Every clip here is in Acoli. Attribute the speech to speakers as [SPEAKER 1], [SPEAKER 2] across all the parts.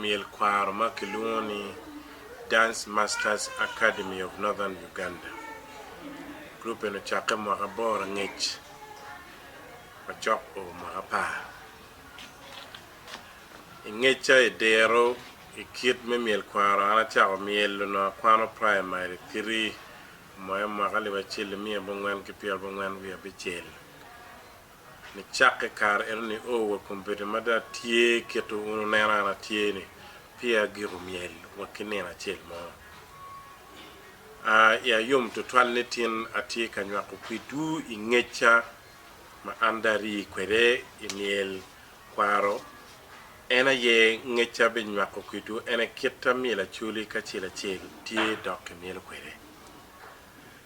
[SPEAKER 1] myel kwaro ma kilwongo ni Dance Masters Academy of Northern Uganda. Gurup eni ocakke mwaka aboro angec ma cok o mwaka apar. I ngecca i diro i kit me myel kwaro an acako myel onongo akwano praimari tiri moya mwaka alip acel nimiya abongwen ki pyerabongwen wiye abicel. Nicakke kare eno nio wa kun bedo ma dong atye kit wun wuneno an atye ni, peya agiko myel wa ki nino acel mo. A I ayom tutwal nitin atye ka nywako kwidwu i ngecca ma an dong arii kwede i myel kwaro, en aye ngecca abinywako kwidwu en aye kit a myel acoli ki acel acel tye dok kimyelo kwede.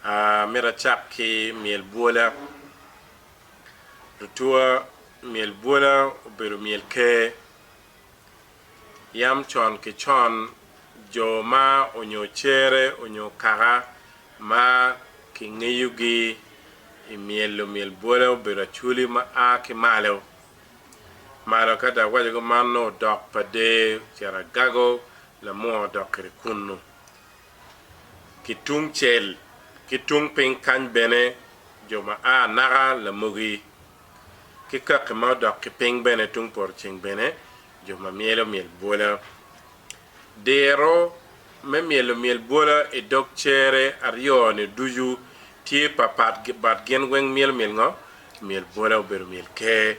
[SPEAKER 1] A Myero acak ki myel bwola. Lutua myel bwola obedo myel ker. Yam con ki con, jo ma onyo cere onyo kaka ma kingeyogi i myelo myel bwola obedo acwali ma a ki malo malo. Ka dok waco kuman, nongo dok pa der ocito agago, lamua odok kwede kunnu. ki tung cel ki tung piny kany bene jo ma a naka lamogi ki kaki ma odok ki piny bene tung poto ceng bene jo ma myelo myel bwola. Diro me myelo myel bwola i dog cere aryo ni ducu tye papat but gin weng myelo myel ngo? Myel bwola obedo myel ker.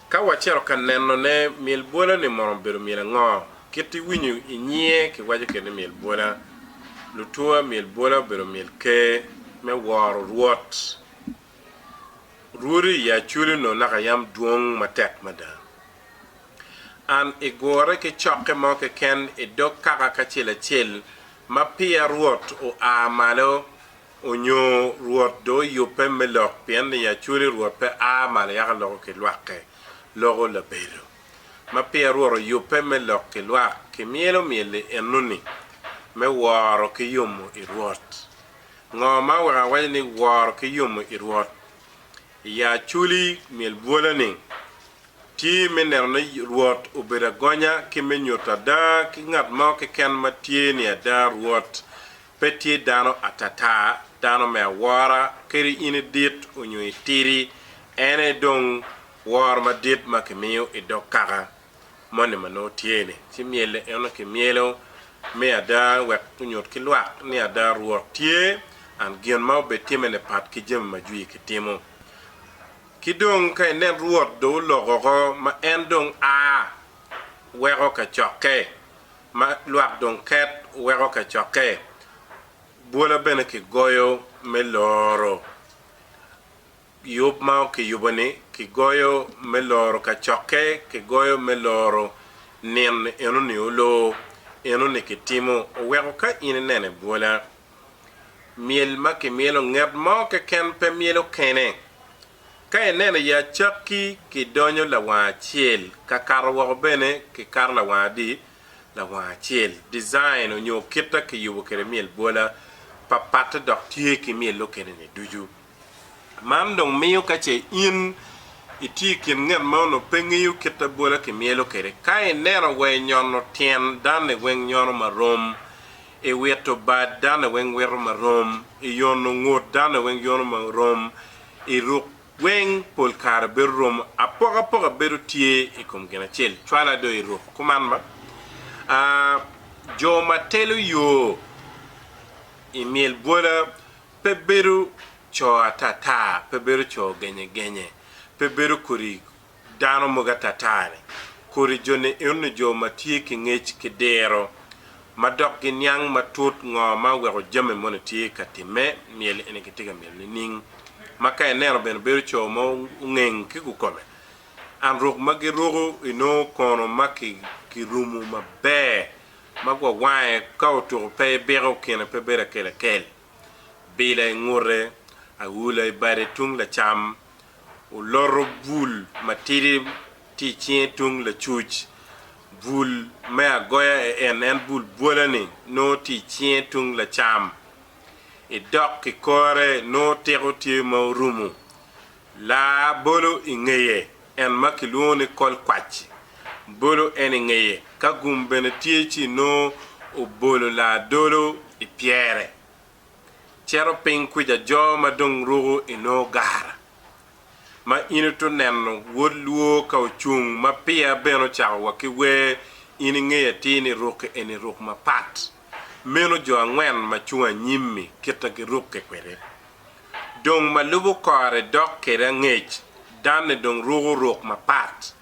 [SPEAKER 1] Ka wacito ka nenone, myel bwola-ni mono bedo myel ango? Kit iwinyo i nyiye kiwaco kene ni myel bwola. Lutua myel bwola obedo myel ker me woro rwot. Rwodi i Acoli onongo naka yam dwong matek mada. An igure ki cokke mo keken i dog kaka kacel acel ma peya rwot oa malo Onyo Rwot do oyubbe me lok, pien ni Yacwele Rwot pe a malo yaka loko ki lwakke, loko labedo. Ma peya Rwot oyubbe me lok ki lwak, ki myelo myel-li enoni, me woro ki yomo i Rwot. Ngo ma oweko awaco ni woro ki yomo i Rwot? I ya acwli myel bwola-ni, tye me neno ni Rwot obedo agonya ki me nyuto ada ki ngat mo keken ma tye ni ada Rwot Pe tye dano atata, dano me awora, kadi in idit onyo itidi, en aye dong woro madit ma kimiyo i dog kaka moni ma nongo tye-ni. Ci myel eno kimyelo me ada wek onyut ki lwak ni ada Rwot tye, and gin ma obitimme-ni pat ki jami ma jwi kitimo. Ki dong ka inen Rwot dong oloko oko, ma en dong a weko kacokke, ma lwak dong ket weko kacokke, bwola bene kigoyo me loro yub ma kiyubo-ni, kigoyo me loro kacokke, kigoyo me loro nin enoni oloo, enoni kitimo. Oweko ka in inene bwola, myel ma kimyelo nget mo keken pe myelo kene, Ka ineno iye acakki kidonyo lawanga acel, ka kato woko bene kikato lawanga adi? Lawanga acel. Design onyo kita kiyubo kede myel bwola papatte dok tye ki myel okene-ni ducu. Man dong miyo ka ce in itye ikin ngat ma onongo pe ngeyo kita bwola kimyelo kede, ka ineno wa inyono tyen dane weng nyono marom, iwito bad dane weng wito marom, iyono ngut dane weng yono marom, i ruk weng pol kare bedo romo apokapoka bedo tye i kom gin acel cwala do i ruk kuman ma a jo ma telo yo i myel bwola pe bedo co atata pe bedo co genye genye pe bedo kodi Dano mogo atata-ni kodi jo nino jo ma tye ki ngec ki diro ma dok giniang matut ngo ma oweko jami moni tye ka timme, myel eni kitye ka myelo nining? Ma ka ineno bene bedo co ma ongeng ki kukome. An ruk ma giruku inongo kono ma kirumu maber ma gwawange ka otuku pe ibiko kine pe bedo akelakel. bila i ngute, awula i bade tung lacam, oloto bul matidi tye i cinge tung lacuc, bul me agoya en en bul bwola-ni nongo tye i cinge tung lacam. I dok kikore nongo tiko tye ma orumo Laa bolo i ngeye, en ma kilwongo ni kol kwac-ci, bolo en i ngeye, ka gum bene tye ci nongo obolo laa dolo i pyere. Cito piny kwica jo ma dong ruko i nongo gara, ma in ito neno wod lwo ka ocung ma piya bene ocako wa ki wer in i ngeye atir ni ruki eni ruk mapat. Meno jo angwen ma cung anyim-mi kita girukke kwede. Dong ma lubo kore dok kede angec, danne dong ruko ruk mapat.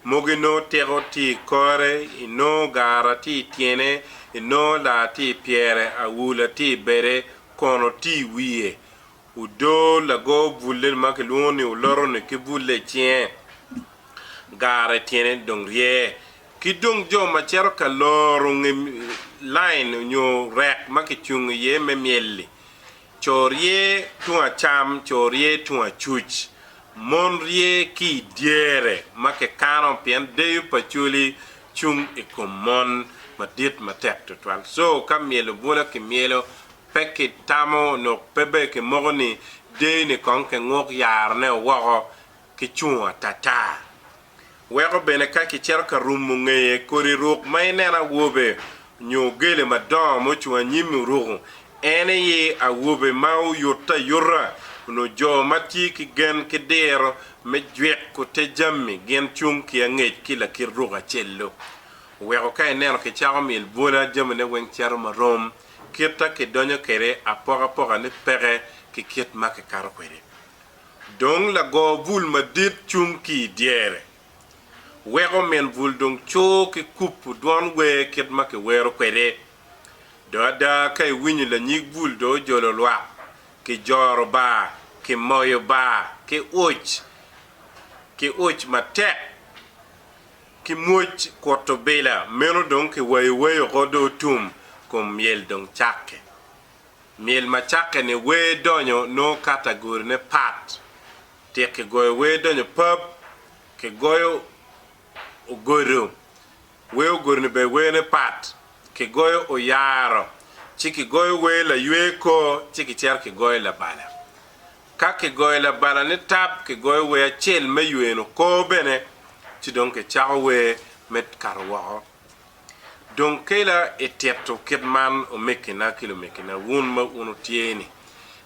[SPEAKER 1] Mogi nongo tiko tye i kore, i nongo gara tye i tyene, i nongo laa tye i pyere, awula tye i bede, kono tye i wiye. Odoo lago bulle ma kilwongo ni oloto-ni ki bulle i cinge, gara i tyene dong rye. Ki dong jo ma cito ka loro nge lain nyo rek ma kicungo iye me myel-li, co rye tung acam, co rye tung acuc, mon rye ki i dyere ma kikano, pien deyo pa coli cung i kom mon madit matek tutwal. Co ka myelo bwolo ki myelo, pe ki tamo nyo pe bene ki moko ni deyo ni kong ki nguk yarone woko ki cungo atata. Weko bene ka kicito ka rumo ngeye, kodi ruk ma ineno awobe nyo ogele madongo ma ocung anyimi oruko, en aye awobe ma oyutte ayuta. Onongo jo ma tye ki gen ki diro me jwiko te jami gin cung ki angec ki lakit ruk acel-lu. Weko ka ineno kicako myel bwola, jamine weng cito ma rom, kitta kidonyo kwede apokapoka-ni peke ki kit ma kikato kwede. Dong lago bul madit cung ki i dyere, weko min bul dong cur ki kubo dwon wer kit ma kiwero kwede. Dong ada, ka iwinyo lanyig bul dong ojolo lwak, kijoro ba, kimoyo ba ki uc, ki uc matek, ki mwoc kut obila, meno dong kiwayo wai oko dong otum, kom myel dong cakke. Myel ma cakke ni Wer Donyo nongo katagorine pat. Tit kigoyo wer donyo pap, kigoyo ogodo. Wer ogodo-ni bene werne pat, kigoyo oyaro, ci kigoyo wer laywe kor ci kicito kigoyo labala. Ka kigoyo labala nitab kigoyo wer acel me yweno kor bene ci dong kicako wer me kato woko. Dong kela i tito kit man omekkina ki lumekkina, wun ma wun wutye ni,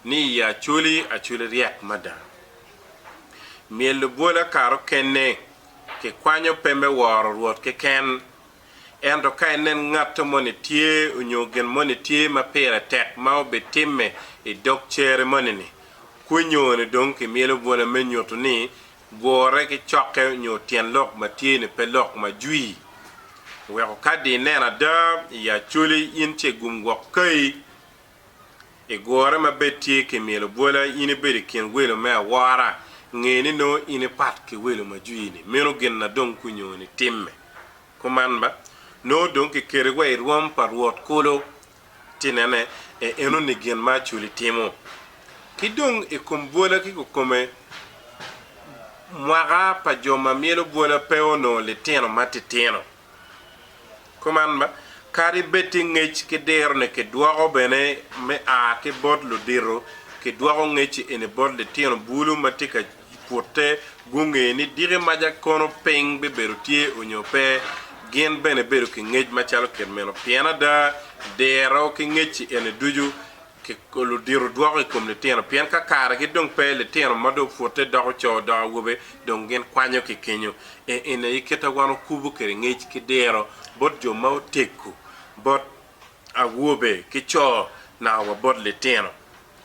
[SPEAKER 1] ni i acoli acoli ryek mada. Myel lubwola kare okenne kikwanyo pe me woro Rwot keken, ento ka inen ngatto moni tye onyo gin moni tye ma pire tek ma obitimme i dog cere moni-ni, kwinyo-ni dong kimyelo bwola me nyutu ni Gure ki cokke nyo tyen lok ma tye-ni pe lok ma jwi. Weko kadi ineno ada i Acholi in ce igum gwok kayi. I gure ma bed tye ki myelo bwola in ibedo i kin welo me awora, nge ni nongo in ipat ki welo ma jwi-ni. Meno gin na dong kunyoni timme. Kuman ba, nongo dong kiketi wa i rwom pa Rwot kulu. ci nene, e enoni gin ma Aculi timo. Ki dong i kom bwola ki kukome, mwaka pa jo ma myelo bwola pe onongo litino matitino. Kuman, kadi bed tye ngec ki diro-ni, kidwoko bene me a ki bot ludito, kidwoko ngec-ci eni bot litino bulu ma tye ka I pute, gunge ni diki maca kono piny bibedo tye onyo pe, gin bene bedo ki ngec macalo kit meno. Pien ada, diro ki ngec-ci eni ducu ludito dwoko i kom litino, pien ka karegi dong pe, litino ma dong pute doko co dok awobe dong gin kwanyo ki kenyo. E, eni aye kit a wan okubo kwede ngec ki diro bot jo ma oteggu, bot awobe ki co, naka wa bot litino.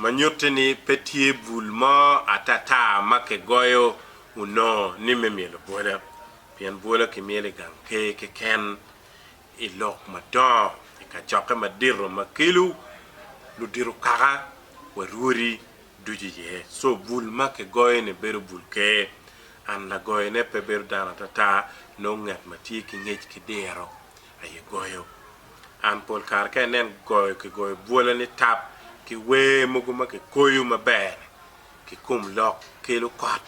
[SPEAKER 1] ma nyutti ni pe tye bul mo atata ma kigoyo onongo ni me myelo bwola, pien bwola kimyelo i gang ker keken, i lok madongo, i kacokke madito ma kelo ludito kaka wa rwodi ducu iye. Co bul ma kigoyo ni bedo bul ker, and lagoyone pe bedo dano atata, nongo ngat ma tye ki ngec ki diro aye goyo. An pol kare ka inen goyo ki goyo bwola ni tap ki wer mogo ma ki koyo maber ki kom lok kelo kot.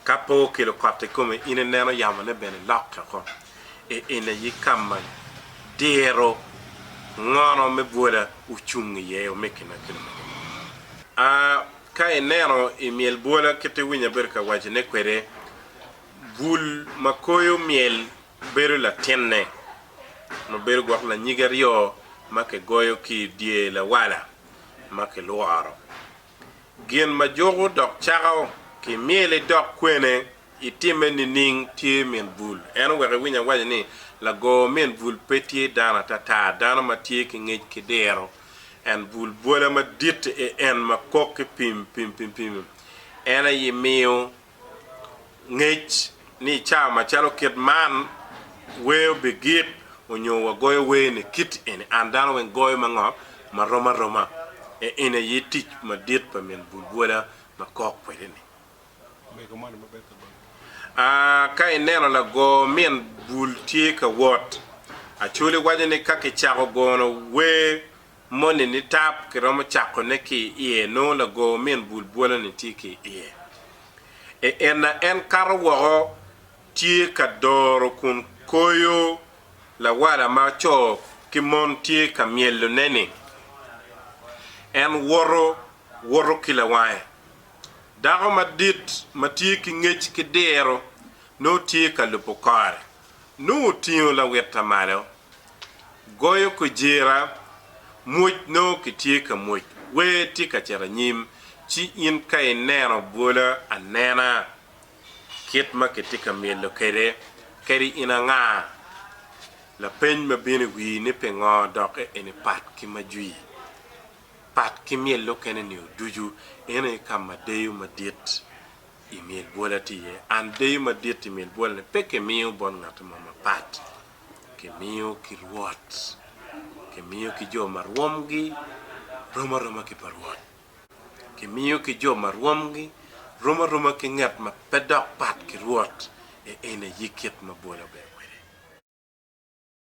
[SPEAKER 1] Ka pe okelo kot i kome in i neno yamo ne bene lokke oko. I en aye kama diro ngono me bwola ocung i ye ome kina kina mogo. Aa ka ineno i myel bwola kit i winyo abedo ka waco ne kwede. Bul ma koyo myel bedo latinne ma bedo gwok lanyige aryo ma kigoyo ki i dye lawala ma kilworo. Gin ma juko dok cako ki myel idok kwene itimme nining tye min bul. En oweko iwiny awaco ni lago min bul pe tye dano atata, dano ma tye ki ngec ki diro. En bul bwola madit en ma kok ki pim pim pim pim. En aye miyo ngec ni i cawa macalo kit man wer obigik onyo wagoyo wer ni kit eni, an dano weng goyo ma ngo ma rom aroma. Eni aye tic madit pa min bulbwola ma kok kwede ni. Ka ineno lago min bul tye ka wot, Acholi waco ni ka kicako gono wer Moni nitap kiromo cakone ki i iye nongo lago min bul bwolo-ni tye ki i iye. I enna en kato woko tye ka doro kun koyo lawala ma co ki mon tye ka myelone-ni. En woto, woto ki lawange. Dako madit ma tye ki ngec ki diro nongo tye ka lubo kore, nongo otingo lawitta malo goyo kujira, mwoc nongo kitye ka mwoc, wer tye ka cito anyim, ci in ka ineno bwola anena kit ma kitye ka myelo kwede, kadi in anga? Lapeny ma bino i wii ni pingo dok eni pat ki ma jwi, pat ki myel mukene ni oducu. Eno aye ka ma deyo madit i myel bwola tye iye. And deyo madit i myel bwola ni pe ki miyo bot ngati mo mapat. kimiyo ki Rwot, kimiyo ki jo ma rwomgi rom aroma ki pa Rwot, kimiyo ki jo ma rwomgi rom aroma ki ngat ma pe dok pat ki Rwot, e en aye kit ma bwola obedo kwede.